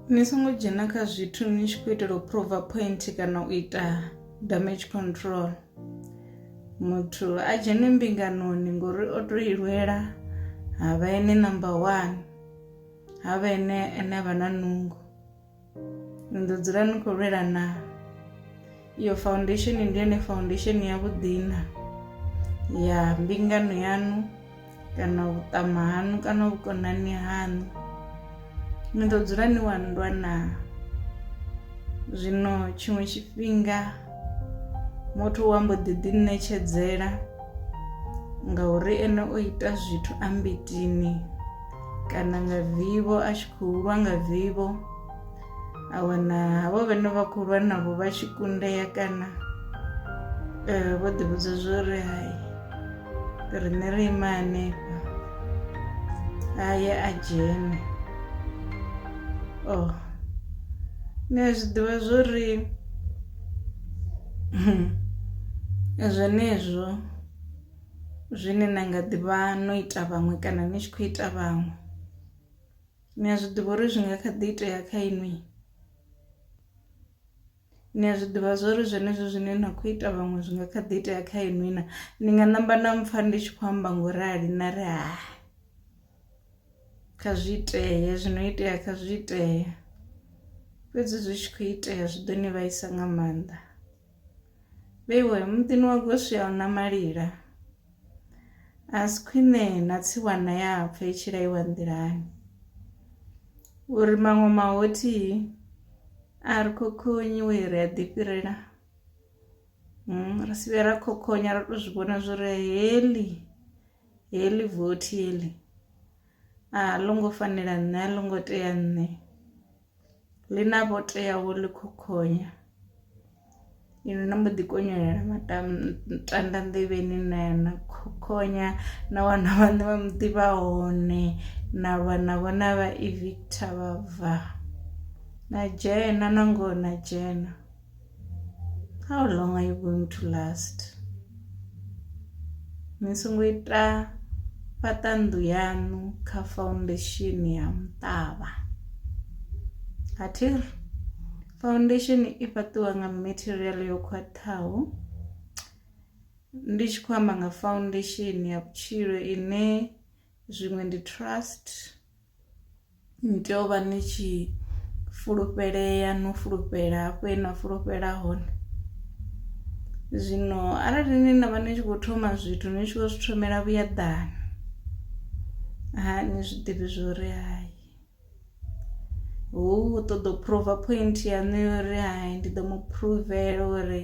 ni songo dzhena kha zwithu ni tshi khou itela u prova point kana u ita damage control muthu a dzhene mbinganoni ngori o to ilwela ha vha ene number one ha vha ene ene a vha na nungo ni ḓo dzula ni khou lwela naa iyo faundesheni ndi yone faundesheni ya vhuḓina ya mbingano yanu kana vhuṱama hanu kana vhukonani hanu ni ḓo dzula ni wa nndwa na zwino tshiṅwe tshifhinga muthu wa mbo ḓi ḓi ṋetshedzela ngauri ene o ita zwithu a mbitini kana nga vivho a tshi khou lwa nga vivho a wana havho vhane vha khou lwa navho vha tshi kundea kana um vho ḓivhudza zwo ri hai riṋe ri ima hanefha a ye a dzhene o oh. ni a zwi ḓivha zwo ri zwenezwo zwine na nga ḓivha no ita vhaṅwe kana ni tshi khou ita vhaṅwe Ni a zwi ḓivha uri zwi nga kha ḓi itea kha inwi, ni a zwi ḓivha zwori zwenezwo zwine na kho ita vhaṅwe zwi nga kha ḓi itea kha inwi na, ni nga ṋamba na mpfha ndi tshi khou amba ngo rali na ri hai kha zwi itee zwino itea kha zwi itee, fhedzi zwi tshi kho itea zwi ḓo ni vhaisa nga maanḓa. Vheiwe muḓini wa Goswi a huna malila, a si khwine na tsiwana ya pfa i tshi laiwa nḓilani uri maṅwe mahothi a ri khokhonyi we ri a ḓifhirela hmm, ri si vhe ra khokhonya ra tou zwi vhona zwo ri heli heli vothi heli a ḽo ngo fanela nṋe a ḽo ngo tea nṋe ḽi na vho teaho ḽi khokhonya inwi na mbo ḓi konyolela matanda nḓevheni na na khokhonya na wana vhaṋe vha muḓi vha hone na lwa na vhona vha evictor vha bva na dzhena na ngoho na dzhena how long are you going to last ni songo ita fhaṱa nnḓu yaṋu kha foundation ya muṱavha a thi ri foundation i fhaṱiwa nga material yo khwaṱhaho ndi tshi khou amba nga foundation ya vhutshilo ine zwiṅwe ndi trust Ni tea u vha ni tshi fulufhelea no fulufhela hafho he na fulufhela hone, zwino arali ni na vha ni tshi kho thoma zwithu ni tshi vho zwi thomela vhuyaḓani ha ni zwiḓivhi zwori hai hu ṱoḓa u phuruva phointhu yaṋu ya uri hai ndi ḓo mu phuruvela uri.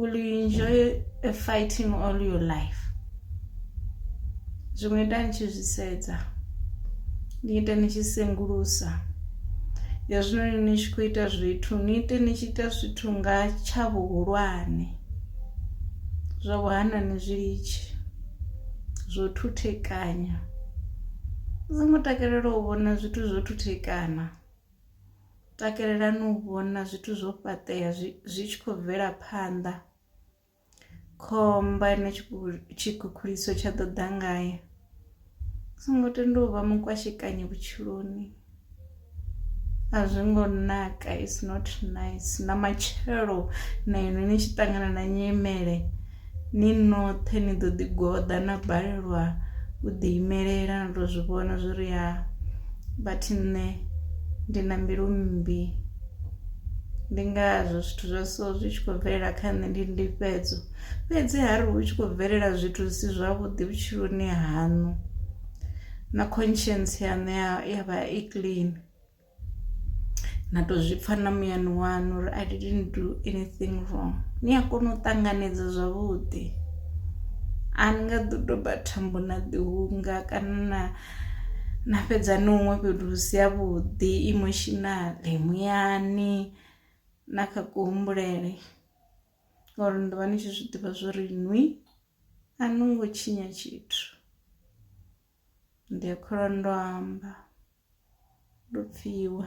Will you enjoy a fighting all your life? Zwiṅwe ita ni tshi zwi sedza, ni ite ni tshi sengulusa. Hezwinoni ni tshi khou ita zwithu, ni ite ni tshi ita zwithu nga tsha vhuhulwane. Zwa vhuhana ni zwi litshe, zwo thuthekanya. Ni songo takalela u vhona zwithu zwo thuthekana. takelelani u vhona zwithu zwo fhaṱea zwi zwi tshi khou bvela phanḓa khomba ine tshikhukhuliso tsha ḓo ḓa ngayo songo tenda u vha mukwashekanye vhutshiloni a zwi ngo naka is not nice na matshelo na inwi ni tshi ṱangana na nyimele Ni noṱhe ni ḓo ḓi goḓa na balelwa u ḓi imelela ni to zwi vhona zwi ri ha vhathi nṋe ndi na mbilu mmbi ndi ngazwo zwithu zwa so zwi tshi khou bvelela kha nṋe ndi ndifhedzo fhedzi ha ri hu tshi khou bvelela zwithu zwi si zwavhuḓi vhutshiloni haṋu na conscience yaṋu ya vha i clean. na to zwi pfha na muyani waṋu uri I didn't do anything wrong ni a kona u ṱanganedza zwavhuḓi a ni nga ḓo doba thambo na ḓi hunga kana na na fhedza ni huṅwe fhethu hu si havhuḓi emotionally muyani na kha kuhumbulele ngauri ni ḓovha ni tshi zwiḓivha zwori nwi a no ngo tshinya tshithu. Ndi a kholwa ndo amba ndo pfiwa.